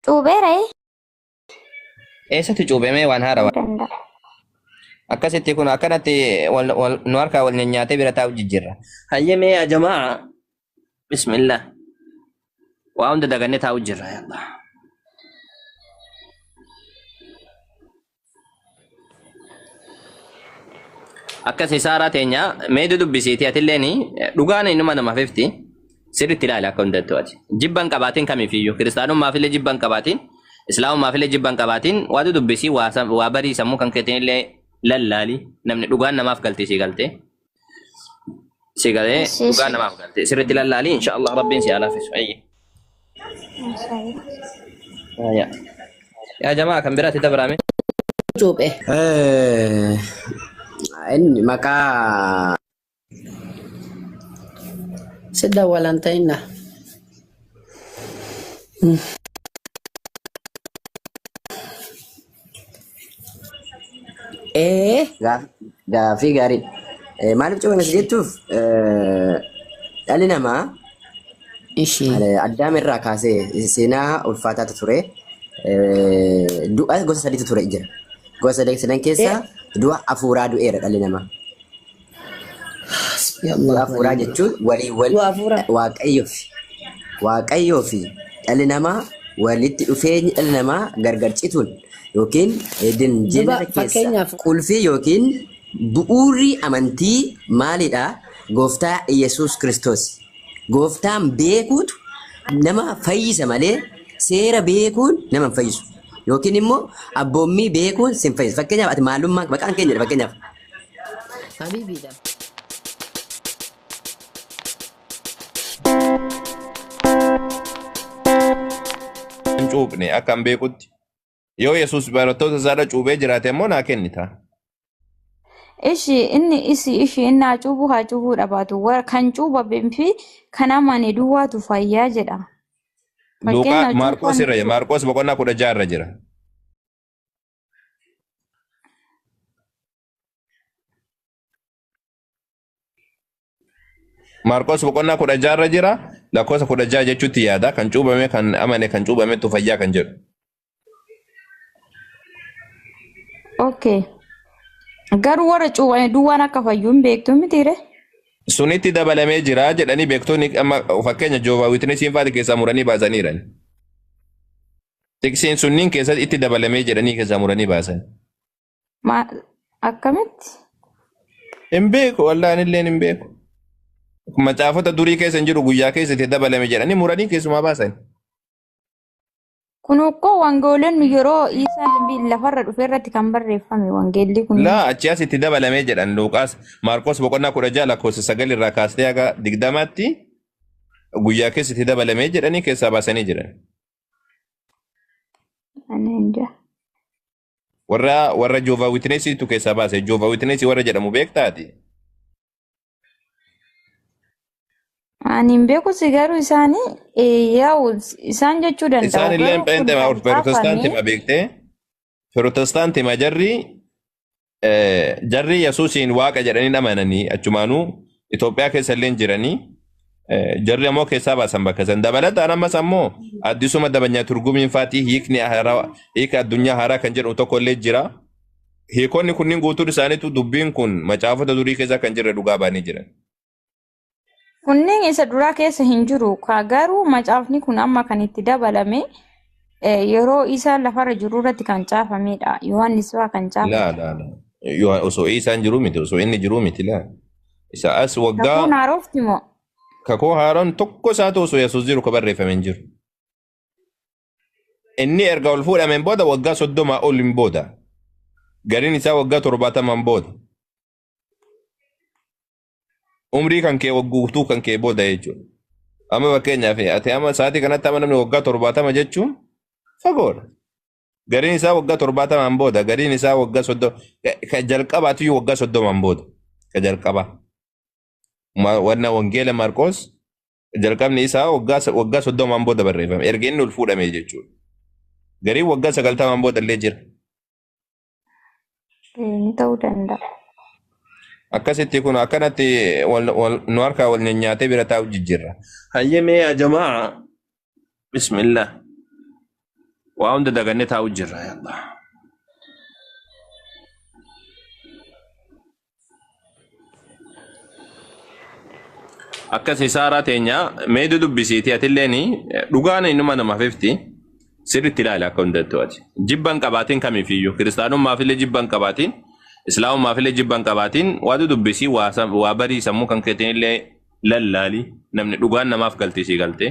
Cuubeera ee? Eessatti cuubemee waan haara waan. Danda'a. Akkasitti kun akkanatti wal, wal, nu harkaa wal nyaatee bira taa'u jijjiirra. Hayyee mee yaa jamaa. Bismillah. Waa hunda dagannee taa'u jirra. yaa Allah. akkas isaaraa teenya mee dudubbisiiti atilleen dhugaan inuma nama fifti sirritti ilaali akka hundattu ati jibban qabaatiin kamifiyyuu kiristaanummaafillee jibban qabaatiin islaamummaafillee jibban qabaatiin waa dudubbisii waa sam- waa barii sammuu kan keetiin illee lallaali namni dhugaan namaaf galti sii galte Si galee Yes, yes. dhugaa namaaf galte. Sirriitti lallaalii inshaallah rabbiin si haa laaffisu. Ayyi. Mashallah. Yaa. Yaa jamaa kan biraatti dabrame. cuuphe. Eh, inni maqaa Si dawwalan ta'inna. Ee gaaf- gaaffii gaarii. Eh, Maaliif cufame si jechuuf eh, dhalli namaa Ishii. eh, addaam irraa kaasee seenaa ulfaataatu ture. Eh, Du'a gosa sadiitu ture jira. Gosa sadii sadan keessaa du'a hafuuraa du'eera dhalli namaa. Du'a hafuuraa jechuun walii wal Du'a hafuuraa. waaqayyoo fi waaqayyoo fi dhalli namaa walitti dhufeenyi dhalli namaa gargar cituun yookiin edin jeenara keessa fakkeenyaaf- qulfii yookiin bu'uurri amantii maalidha? Gooftaa Yesuus Kiristoos. Gooftaan beekuutu nama fayyisa malee seera beekuun nama hin fayyisu. Yookiin immoo abboommii beekuun sin fayyisa. Fakkeenyaaf ati maalummaa maqaan keenya fakkeenyaaf Habiibiidha. hin cuuphne akka hin beekutti yoo yesus barattoota isaarra cuuphee jiraate immoo naa kennita Ishi inni isi ishi inni haa cuubuu haa cuubuu dhabaatu Wa- kan cuubame fi kan amane duwwaatu fayyaa jedha. luuqaa Fakkeenyaaf maarqos cuuphaan irra jira maarqos boqonnaa kudha jaha irra jira Maarqos boqonnaa kudha jaha irra jira lakkoofsa kudha jaha jechuutti yaada kan cuubame kan amane kan cuubametu fayyaa kan jedhu. Okay. Garuu warra cuubame duwwaan akka fayyuu hin beektu mitiire? Sunitti dabalamee jira jedhanii beektonni amma fakkeenya Joovaa Wiitnesiin faati keessaa muranii baasaniiran. Xiqsiin sunniin keessatti itti dabalamee jedhanii keessaa muranii baasan. Ma- Akkamitti? Hin beeku wallahi anilleen hin beeku. Macaafota durii keessa hin jiru guyyaa keessa itti dabalame jedhanii muranii keessumaa baasan. Kun ukkoo wangeelonni yeroo Iisaan bi- lafarra dhufe irratti kan barreeffame wangeelli kun. Laa achi as itti dabalamee jedhan Luuqaas Maarqos boqonnaa kudha ja'a lakkoofsa sagal irraa kaastee haga digdamaatti guyyaa keessa itti dabalamee jedhanii keessaa baasanii jiran. Ani hin jaa. Warra warra Joova Witnesiitu keessaa baase. Joova Witnesii warra jedhamu beektaati. Ani hin beeku si garuu isaanii eh, yaa'u isaan jechuu Isaan danda'u illee garuu kun Pheenxee kan Ortodoksitaanti kaafame ma beektee? Protestaanti ma jarri Eh, jarri Yesuusiin waaqa jedhanii amananii achumaanuu Itoophiyaa keessa illee jiranii eh, jarri ammoo keessaa baasan bakka san dabalataan ammas ammoo addisuma dabanyaa turgumiin faatii hiikni haaraa hiika addunyaa haaraa kan jedhu tokko illee jira. Hiikonni kunniin guutuun isaaniitu dubbiin kun macaafota durii keessaa kan jirre dhugaa baanii jiran. Kunneen isa duraa keessa hin jiru. Ka- Garuu macaafni kun amma kan itti dabalame eh, yeroo isaa lafarra jiru irratti kan caafamedha. Yohaannis fa'aa kan Laa caafate. laa laa. Yoo osoo isaan jiru miti osoo inni jiru miti laa. Isa as Kakuun waggaa haarofti moo? kakuu haaroon tokko isaatu osoo Yesuus jiru ka barreeffame hin jiru. Inni erga ol fuudhameen booda waggaa soddomaa ol hin booda. Gariin isaa waggaa torbaatamaan booda. umrii kan kee wagguutuu kan kee booda jechuudha. Amma fakkeenyaaf ati amma sa'aatii kanatti amma namni waggaa torbaatama jechuun fagoodha. Gariin isaa waggaa torbaatamaan booda, gariin isaa waggaa soddoma, ka jalqabaatiyyuu waggaa soddomaan booda, ka jalqabaa. Ma- Wanna wangeela Maarqoos jalqabni isaa waggaa sa- waggaa soddomaan booda barreeffame. Erga inni ol fuudhame jechuudha. Gariin waggaa sagaltamaan booda illee jira. Eh, Ni ta'uu danda'a. Akkasitti kun akkanatti wal, wal, nu harkaa wal nyaatee bira taa'u jijjiirra. Hayyee mee yaa jamaa bismillah waa hunda dagannee taa'u jirra yaa Allah. Akkasi saaraa teenya mee dudubbisiiti atilleen dhugaan innuma nama fifti sirriitti ilaali akka hundattuu ati. Jibba hin qabaatiin kamiifiyyuu kiristaanummaaf illee jibba hin qabaatiin islaamummaaf illee jibba hin qabaatiin waa dudubbisii waa sam- waa barii sammuu kan keetiin illee lallaali namni dhugaan namaaf galtii sii galtee.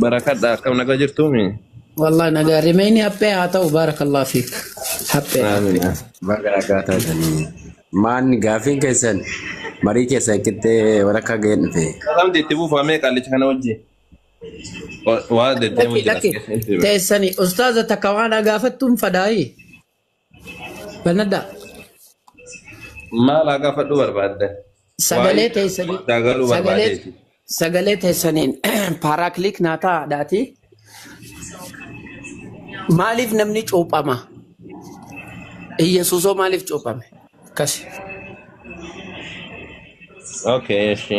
Barakadhaa akkam nagaa jirtuumi? Wallahi nagaa rimeeyni haphee haa ta'u baarakallah fiik. Haphee haphee. Aamiin. Baga nagaa taatanii. Maan gaafiin keessan marii keessan qixxee walakkaa ga'een dhufe. Salamti itti fufaa mee qaallicha kana wajjin. Wa- Waa deddeemu Lakki jira as lakki keessatti. teessani ustaaza takka waan gaafattuun fadaayi. Banadhaa. Maal haa gaafadhu barbaadda? Waa'ee Sagalee teessanii daa galuu sagalee barbaadeeti. sagalee teessaniin paaraakiliik naa ta'aadhaati. Maaliif namni cuuphama? Iyyasuusoo maaliif cuuphame? Akkasi. Okay, eshi.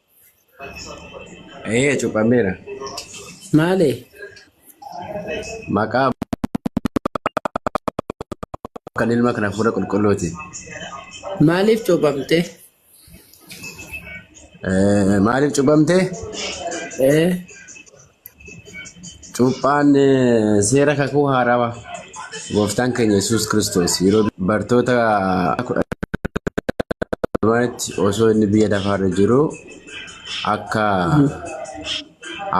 Ee cuqameera. Maalee? Maqaa kan ilma kana fuula qulqulluuti. Maaliif cuuphamte? Ee, Maaliif cuqamte? Ee, Cuuphaan eh, seera kakuu haarawaa gooftaan keenya Yesuus Kiristoos yeroo bartoota kudha lamatti osoo inni biyya lafaarra jiru akka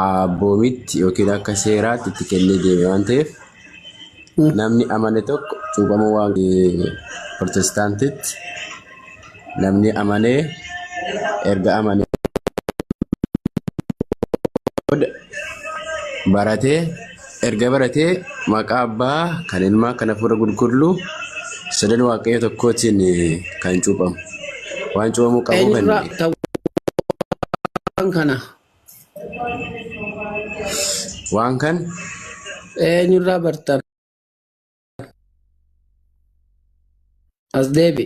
abboomitti yookiin akka seeraatti itti kennee deeme waan ta'eef namni amane tokko cuuphamuu waan protestaantitti namni amane erga amane booda baratee erga baratee maqaa abbaa kan ilmaa kan hafuura qulqulluu sadan waaqayyo tokkootiin kan cuuphamu waan cuuphamuu qabu kan Eenyurraa ta'uu waan kana Waan kan eenyurraa bartan as deebi.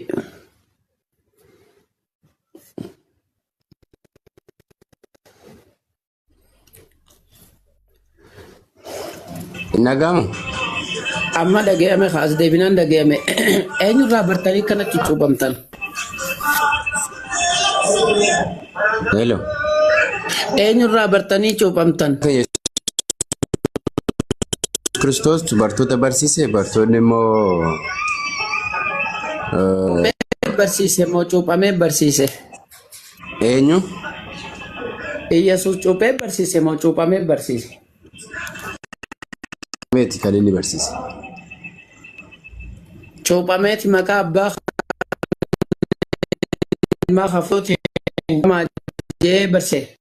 Hin dhaga'amu. Amma dhaga'ame kaas deebinaan dhaga'ame eenyurraa bartanii kanatti cuuphamtan? Hello. Eenyurraa bartanii cuuphamtan? Kiristoos bartoota barsiise bartoonni immoo eh, Barsiise moo cuuphamee barsiise? Eenyu? Iyyasuus cuuphee barsiise moo cuuphamee barsiise? Meeti kan inni barsiise. Cuuphameeti maqaa abbaa ilmaa hafuutiin jee barsiise.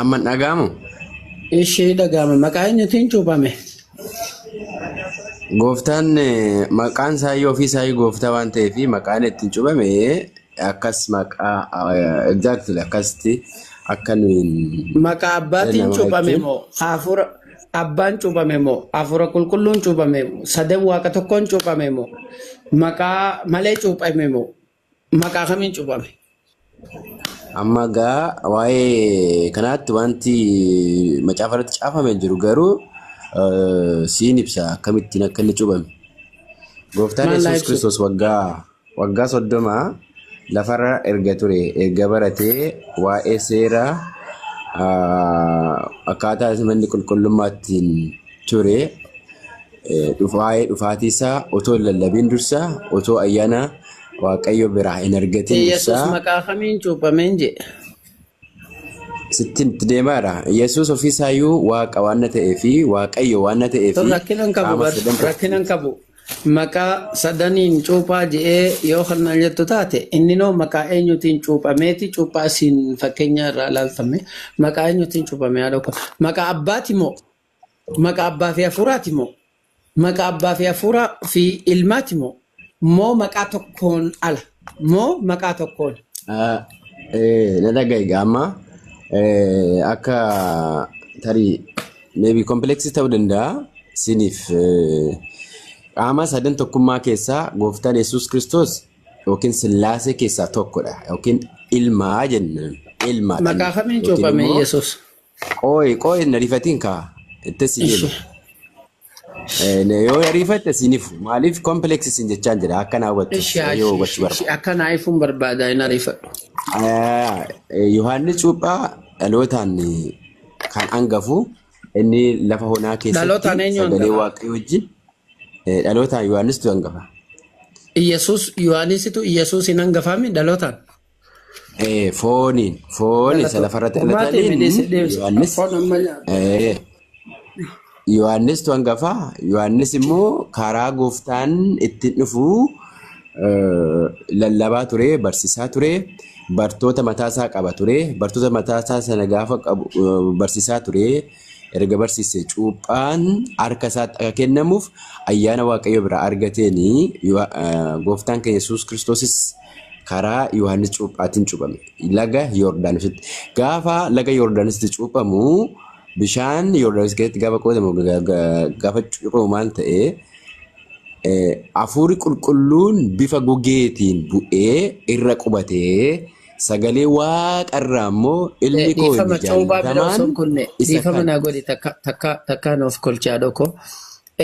Amman dhagaamu Ishii dhagaama maqaa eenyutiin cuuphame? gooftaan eh, maqaan saayii ofii saayii gooftaa waan ta'eef maqaan ittiin cubame akkas maqaa eh, exactly akkasitti akka nuyi hin Maqaa abbaatiin nama cuuphame jechuun moo hafuura abbaan cuuphame moo hafuura qulqulluun cuuphame moo sadan waaqa tokkoon cuuphame moo maqaa malee cuuphame moo Maqaa kamiin cuphame? Amma gaa waa'ee kanaatti wanti macaafa irratti caafame hin jiru garuu eh, siin ibsa akkamittiin akka inni cuubame. Gooftaan Maal naa Yesuus ibsu? Kiristoos waggaa waggaa soddoma lafarra erga ture erga baratee waa'ee seera ah, akkaataa manni qulqullummaattiin ture Waa'ee dhufaatii isaa otoo hin lallabin dursa, otoo ayyaana Waaqayyo biraa hin argatin Yesus dursa maqaa kamiin cuuphameen jedhe? sitti itti deemaadha. Yesus ofii isaayyuu Waaqa waan na ta'ee fi Waaqayyo waan na ta'ee Tun fi rakkina hin qabu qaama bar. sadan tokko Rakkina hin qabu. Maqaa sadaniin cuuphaa je'ee yoo kan na jettu taate inni noo maqaa eenyutiin cuuphameeti cuuphaa isin fakkeenya irraa ilaaltame maqaa eenyutiin cuuphame haadha koo. Maqaa abbaati moo? Maqa abbaa fi hafuuraati moo? Maqa abbaa fi hafuuraa fi ilmaati moo? Moo maqaa tokkoon ala? Moo maqaa tokkoon? Ah, eh, na dhaga'i egaa amma eh, akka tarii maybe kompleksii ta'uu danda'a isiniif eh, qaama sadan tokkummaa keessaa gooftaan yesus kiristoos yookiin sillaasee keessaa tokkodha yookiin ilmaa jennaan ilmaadha Maqaa kamiin yookiin cuuphame immoo Yesuus? Qooyi qooyi na rifatiin kaa itti si Ishi. deema. Eh, na- Yoo na rifatte siiniif maaliif kompileeksi siin jechaan jira akka naa hubattu Ishi yoo ishi hubachuu ishi barbaadde. ishi akka naa ifuun barbaada hin ariifadhu. Ah, eh, Yohaannis Cuuphaa dhalootaan eh, kan angafu inni lafa honaa keessatti Dhalootaan eenyu sagalee angafa? waaqayyoo wajjin eh, dhalootaan Yohaannistu angafa. Iyyasuus Yohaanisitu Iyyasuus hin hangafaami dhalootaan. Eh, Fooniin. Foon isa Galatoo. lafarratti Furmaata himee dhalataniin deesse deebisa. Yohaannis. Foon amma nyaata. Eh, Yohaannis tu hangafa. Yohaannis immoo karaa gooftaan ittiin dhufu eh, lallabaa ture, barsiisaa ture, bartoota mataasaa qaba ture. Bartoota mataasaa sana gaafa qabu eh, barsiisaa ture. Erga barsiisee cuuphaan harka isaatti akka kennamuuf ayyaana Waaqayyo biraa argateen gooftaan keenya Yesuus Kiristoosis karaa Yohaannis cuuphaatiin cuuphame. Laga Yoordaanositti. Gaafa laga Yoordaanositti cuuphamu bishaan Yoordaanos keessatti gaafa qoodamu gaafa cuuphamu maal ta'e hafuurri qulqulluun bifa gugeetiin bu'ee irra qubatee Sagalee Waaqa irraa immoo Eh, ilmi koo inni dhiifama coobaa bira osoo jaallatamaan hin kunne isa dhiifama kana. naa godhi takka takka takka nuuf kolchaa dhoko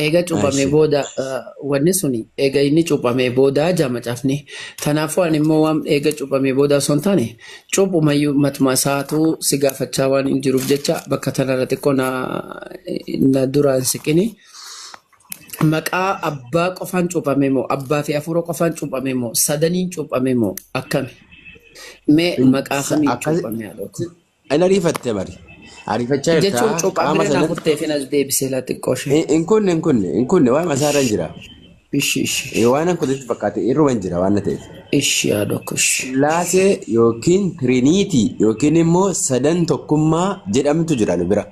eega cuuphamee Ashi. booda eh, wanni suni eega inni cuuphamee booda jaa macafni kanaafuu ani immoo waan eega cuuphamee booda osoo hin taane cuuphumayyuu matuma isaatu si gaafachaa waan hin jiruuf jecha bakka tanarra xiqqoo na na duraan siqini Maqaa abbaa qofaan cuuphamee moo? Abbaa fi hafuura qofaan cuuphamee moo? Sadaniin cuuphamee moo? Akkami? Mee Hin- maqaa sa- kamiin akkasi- cuuphamee haadhoota? Hin ariifatte bari. Ariifachaa jirta. Jechuun cuuphaa Qaama bireen sana- hafuttee fi nas deebisee laa xiqqoo ishee. Hin- Hin kunne hin kunne hin kunne waan masaarra hin jira. Ishi ishi Eh, Waan hin kutetti fakkaate irruma hin jira waan na ta'eef. ishi haadhookko ishi. Sillaasee yookiin Tiriiniitii yookiin immoo sadan tokkummaa jedhamtu jira nu bira.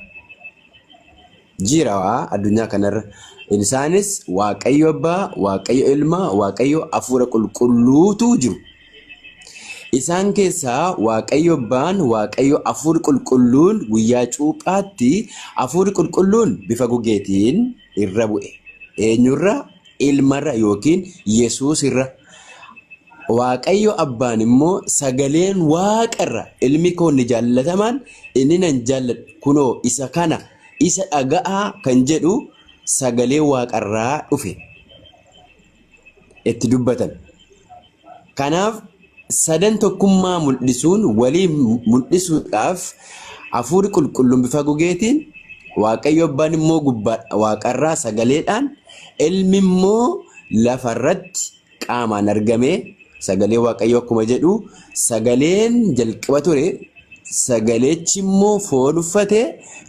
Jira waa addunyaa kanarra. Isaanis Waaqayyo Abbaa, Waaqayyo Ilma, Waaqayyo Hafuura Qulqulluutu jiru. Isaan keessaa Waaqayyo Abbaan, Waaqayyo Hafuurri Qulqulluun guyyaa cuuphaatti Hafuurri Qulqulluun bifa gugeetiin irra bu'e. Eenyurra? Ilmarra yookiin Yesuusirra. Waaqayyo Abbaan immoo sagaleen Waaqarra ilmi koo inni jaallatamaan inni nan jaalladhu kunoo isa kana Isa dhaga'aa kan jedhu sagalee waaqarraa dhufe itti dubbatan. Kanaaf sadan tokkummaa mul'isuun walii mul'isuudhaaf hafuurri qulqulluun bifa gugeetiin waaqayyo abbaan immoo gubbaa waaqarraa sagaleedhaan ilmi immoo lafarratti qaamaan argame sagalee waaqayyoo akkuma jedhu sagaleen jalqaba ture sagalechi immoo foon uffate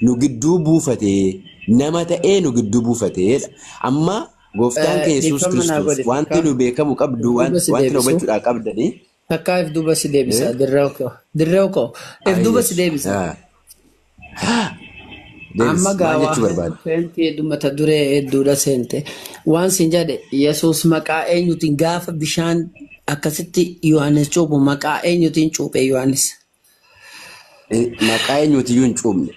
nu gidduu buufate nama ta'ee nu gidduu buufateedha. Amma gooftaan keenya Yesuus Kiristoos wanti nu beekamu qabdu wanti nu hubachuudhaa qabdanii. Takkaa if duuba si deebisa Eh? dirreew koo. Dirreew koo if Ah, duuba yes. si deebisa. Ah. Ah. Deebis, Amma maal gaawaa jechuu barbaadde? feentii heddumata duree hedduudha seente. Waan sin jedhe Yesuus maqaa eenyutiin gaafa bishaan akkasitti Yohaannis cuuphu maqaa eenyutiin cuuphe Yohaannis? Eh, Maqaa eenyuutiyyuu hin cuubne.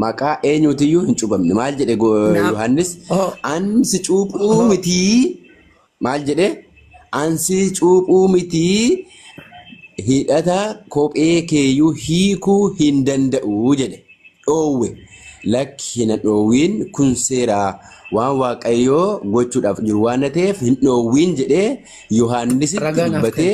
Maqaa eenyuutiyyuu hin cuubamne. Maal jedhe go- Naaf- Yohaannis? Oh. An si cuuphuu Oh. mitii. Maal jedhe? An si cuuphuu mitii. Hidhata kophee keeyyuu hiikuu hin danda'u jedhe. Dhoowwe. Lakki hin dhoowwiin kun seeraa waan Waaqayyoo gochuudhaaf jiru waan ta'eef hin dhoowwiin jedhee Yohaannisitti Ragaa naaf dubbatee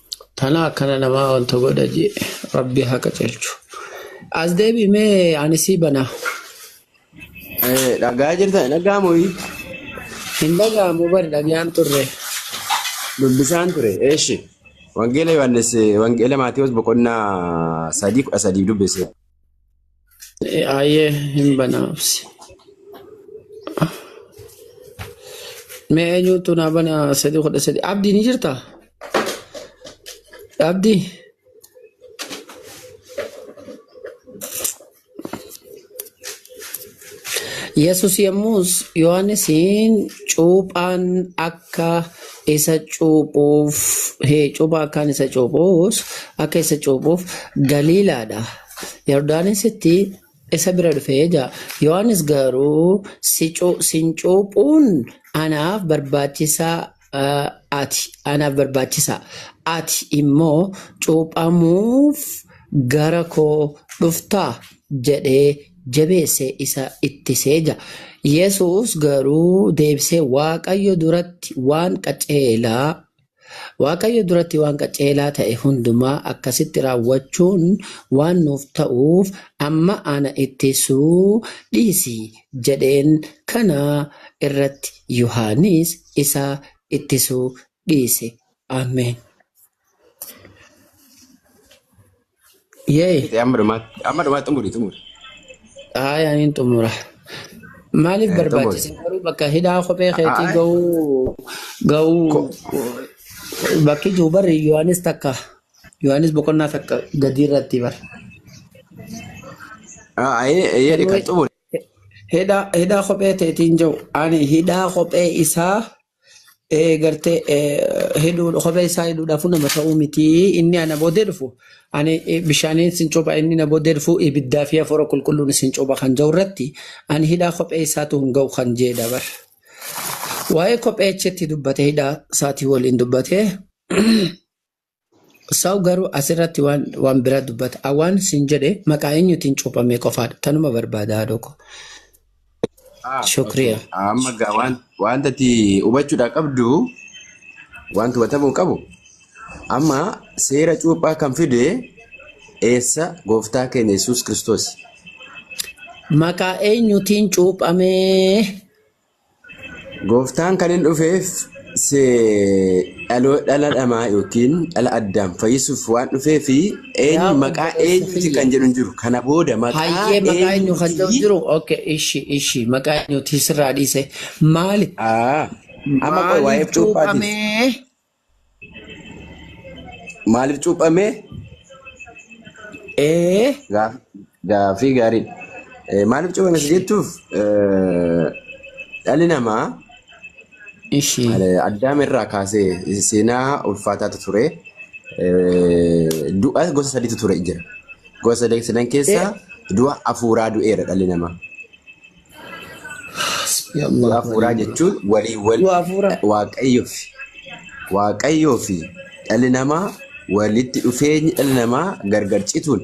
Tana akkana namaa wanta godha jee rabbi haa qacelchu. As deebi mee ani sii bana. Eh, Dhagaa jirta dhagaa mooyi Hin dhaga'amu bari dhagaan turre. dubbisaan ture. Eeshi. Wangeela Yohaannis eh, Wangeela Maatewos boqonnaa sadii kudha sadii dubbise. Ayyee hin banaafsi. Mee eenyuutu naa bana sadii kudha sadii. Abdii ni jirtaa? Abdii. Yesus yommus Yohaannisiin cuuphaan akka isa cuuphuuf, hee, cuuphaa akkaan isa cuuphuus, akka isa cuuphuuf Galiilaadha Yordaanositti isa bira dhufe ja'a. Yohaannis garuu sin cuuphuun anaaf barbaachisaa ati anaaf barbaachisaa ati immoo cuuphamuuf gara koo dhuftaa jedhee jabeessee isa ittisee ja'a. Yesuus garuu deebisee Waaqayyo duratti waan qaceelaa Waaqayyo duratti waan qaceelaa ta'e hundumaa akkasitti raawwachuun waan nuuf ta'uuf amma ana ittisuu dhiisi jedheen kana irratti Yohaanis isa ittisuu dhiise. Ameen. Yee. Fixee amma dhumaatti amma dhumaatti xumuri xumuri Haaya niin xumura. Maaliif Eh, xumuri. barbaachisa garuu bakka hidhaa kophee Ah, keetii ah, ga'uu ga'uu ko- bakki jiru barri Yohaanis takka Yohaanis boqonnaa takka gadii irratti bar. ah, ah, eh, eh, jedhi Sanuu kan xumuri hidhaa hidhaa kophee teetiin jiru ani hidhaa kophee isaa eh, gartee eh, hidhuu kophee isaa hidhuudhaafuu nama ta'uu miti inni ana boodee dhufu ani eh, bishaaniin sin cuupha inni na boodee dhufu ibiddaa fi hafuura qulqulluun sin cuupha kan jedhu irratti ani hidhaa kophee isaatu hin ga'u kan jedhe dabar waa'ee kophee achitti dubbate hidhaa isaatii waliin dubbate Saw garuu asirratti waan waan bira dubbata. A waan sin jedhe maqaa eenyutiin cuuphame qofaadha. Tanuma barbaada haadhoo koo. Ah, okay. Shukriya. Amma gaa waan wanta ati hubachuudhaa qabdu wanti hubatamuu qabu amma seera cuuphaa kan fide eessa gooftaa keenya Yesuus Kiristoos. Maqaa eenyutiin cuuphame Gooftaan kan hin dhufeef se dhaloo dhala dhamaa yookiin dhala addaam fayyisuuf waan dhufee fi een Yaa maqaa obboleessa eenyuuti kiyya. kan jedhu hin jiru. Kana booda maqaa Hayyee maqaa eenyu kan jedhu eenyuuti? jiru? Okay, ishi ishi maqaa eenyuuti sirraa dhiise maali? Aa, amma qoy waa'ee maaliif cuuphaatiif. cuuphamee? Maaliif cuuphamee? Ee gaaf- gaaffii gaariidha. Eh, Maaliif cuuphame si jettuuf eh, dhalli namaa Ishii. eh, addaam irraa kaasee seenaa ulfaataatu ture. Eh, Du'a gosa sadiitu ture jira. Gosa sadii sadan keessaa du'a hafuuraa du'eera dhalli namaa. Hasbi Allahu Du'a wa hafuuraa ni'mal jechuun wakiil. walii wal Du'a hafuuraa. waaqayyoo fi waaqayyoo fi dhalli namaa walitti dhufeenyi dhalli namaa gargar cituun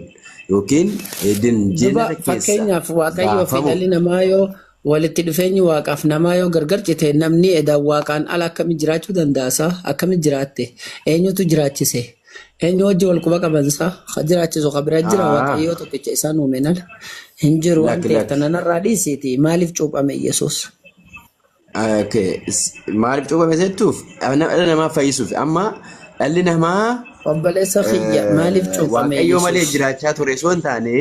yookiin edin Duba jeenata keessa fakkeenyaaf waaqayyoo fi baafamu dhalli namaa yoo walitti dhufeenyi waaqaaf namaa yoo gargar cite namni edaan waaqaan ala akkamitti jiraachuu danda'a isaa akkamitti jiraatte eenyutu jiraachise Eenyu wajji wal quba qabansa ha jiraachisu ha bira jira Haa. waaqayyoo tokkicha isaan uumeen ala hin jiru waan Lakki, ta'eef lakki. kana narraa dhiisiiti maaliif cuuphame Yesuus? Okay. s- Maaliif cuuphame jettuuf Ana- dhala namaa fayyisuuf amma dhalli namaa Obboleessa kiyya maaliif eh, cuuphame waaqayyoo malee Yesuus? jiraachaa ture osoo hin taane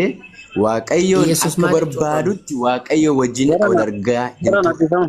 waaqayyoon Yesuus akka maaliif cuuphame? barbaadutti waaqayyoo wajjin Gara wal na, argaa gara hin na turre. dhiifama.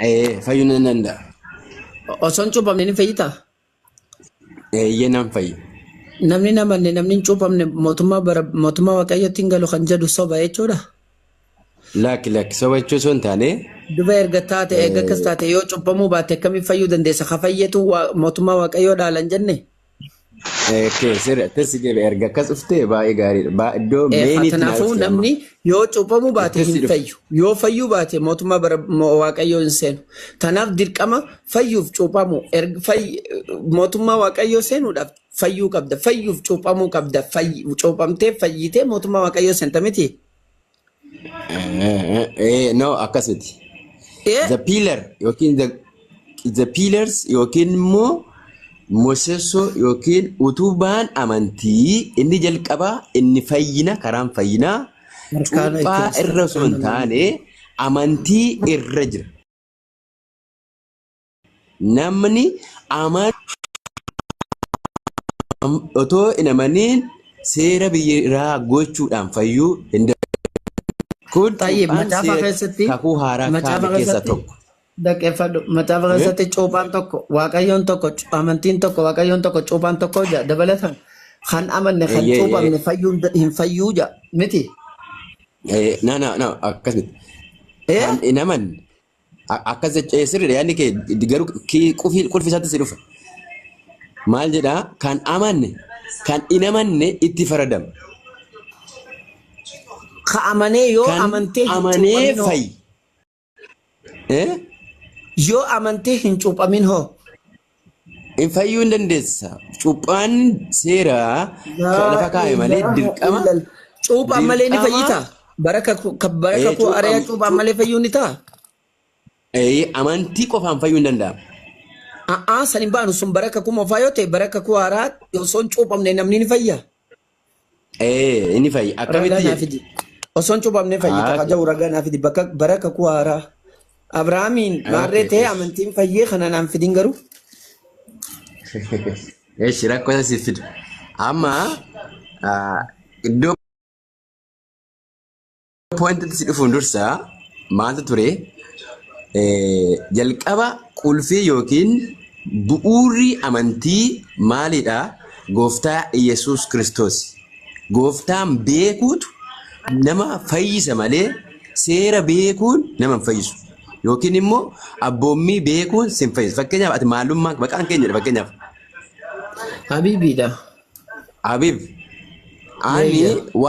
Ee, fayyuu nan danda'a. Osoo hin cuuphamne ni fayyitaa? Eeyyee nan fayyu. Namni hin amanne namni hin cuuphamne mootummaa bara mootummaa waaqayyootti hin galu kan jedhu soba jechuudha. Lakki lakki soba jechuun osoo hin taane Duba erga taate eega akkas taate yoo cuuphamuu baatte akkamiin fayyuu dandeessa? Ka fayyetu waa- mootummaa waaqayyoo dhaalan jenne? Okay, sirri akkas deebi'e erga akkas dhuftee baay'ee gaariidha. Baa- Iddoo Eefa. meeniitti naa Kanaafuu dhufte amma. namni yoo cuuphamuu baate Akkas hin dhufte. fayyu. Yoo fayyuu baate mootummaa bara mo- waaqayyoo hin seenu. Kanaaf dirqama fayyuuf cuuphamuu. Erga fayy- Mootummaa waaqayyoo seenuudhaaf fayyuu qabda. Fayyuuf cuuphamuu qabda. Fayy- Cuuphamtee fayyitee mootummaa waaqayyoo seenta miti. Eh, no akkasiti. Ee The pillar yookiin the, the pillars yookiin immoo mosessoo yookiin utubaan amantii inni jalqabaa inni fayyina karaan fayyinaa harkaana itti cuuphaa irra osoo hin taane amantii irra jira. Namni amaan otoo hin amaniin seera biyya irraa gochuudhaan fayyuu hin danda'u. Kun Tayyib cuuphaan macaafa seera keessatti kakuu haaraa kaa'ame macaafa keessaa keessatti tokko. dhaggeeffadhu macaafa Eh? keessatti cuuphaan tokko waaqayyoon tokko cu- amantiin tokko waaqayyoon tokko cuuphaan tokko ja dabalatan kan amanne kan Eeyyee, cuuphamne eeyyee. fayyuu hin da- hin fayyuu ja miti Eh, Na, na, na, akkas miti. Eh? Kan hin amanne, A- Akkas jecha ee, sirriidha yaadni kee garuu kii- qufii- qulfi isaatti si dhufa. Maal jedhaa kan amanne kan hin amanne itti faradama. Ka amanee yoo Kan amantee hin amanee cuuphamin hoo? fayi. Eh? Yoo amantee hin cuuphamin hoo? Hin fayyuu hin dandeessa. Cuuphaan seera ka- lafa Laa kaa'e malee ilaaha dirqama illal. Cuuphaan malee ni dirqama fayyita. Bara kakuu ka- bara ee, kakuu cuuphaan arayaa cuuphaan malee fayyuu ni ta'a. ee, amantii qofaan fayyuu hin danda'amu. A'aa san hin baanu sun bara kakuu moofaa yoo ta'e bara kakuu haaraa osoo hin cuuphamne namni ni fayya. Ee, inni fayyi. Ragaa Akkamitti naa jedhe? fidi. Osoon cuuphamne fayyita Haa, haa ja'u ragaa naa fidi. Bakka bara kakuu haaraa. Abrahaamiin okay, maarree ta'ee eesh. amantiin fayyee kana naan fidin garuu. Eesh, rakkoo isa siif fida. Amma ah, iddoo Poointitti si dhufuun dursa maaltu ture? Eh, Jalqaba qulfii yookiin bu'uurri amantii maalidha? Gooftaa Iyyasuus Kiristoos. Gooftaan beekuutu nama fayyisa malee seera beekuun nama hin fayyisu. Yookiin immoo abboommii beekuun si hin fayyisu. Fakkeenyaaf ati maalummaa maqaan keenyadha fakkeenyaaf. Habiibiidha. Abiib, ani Meeyya. wa-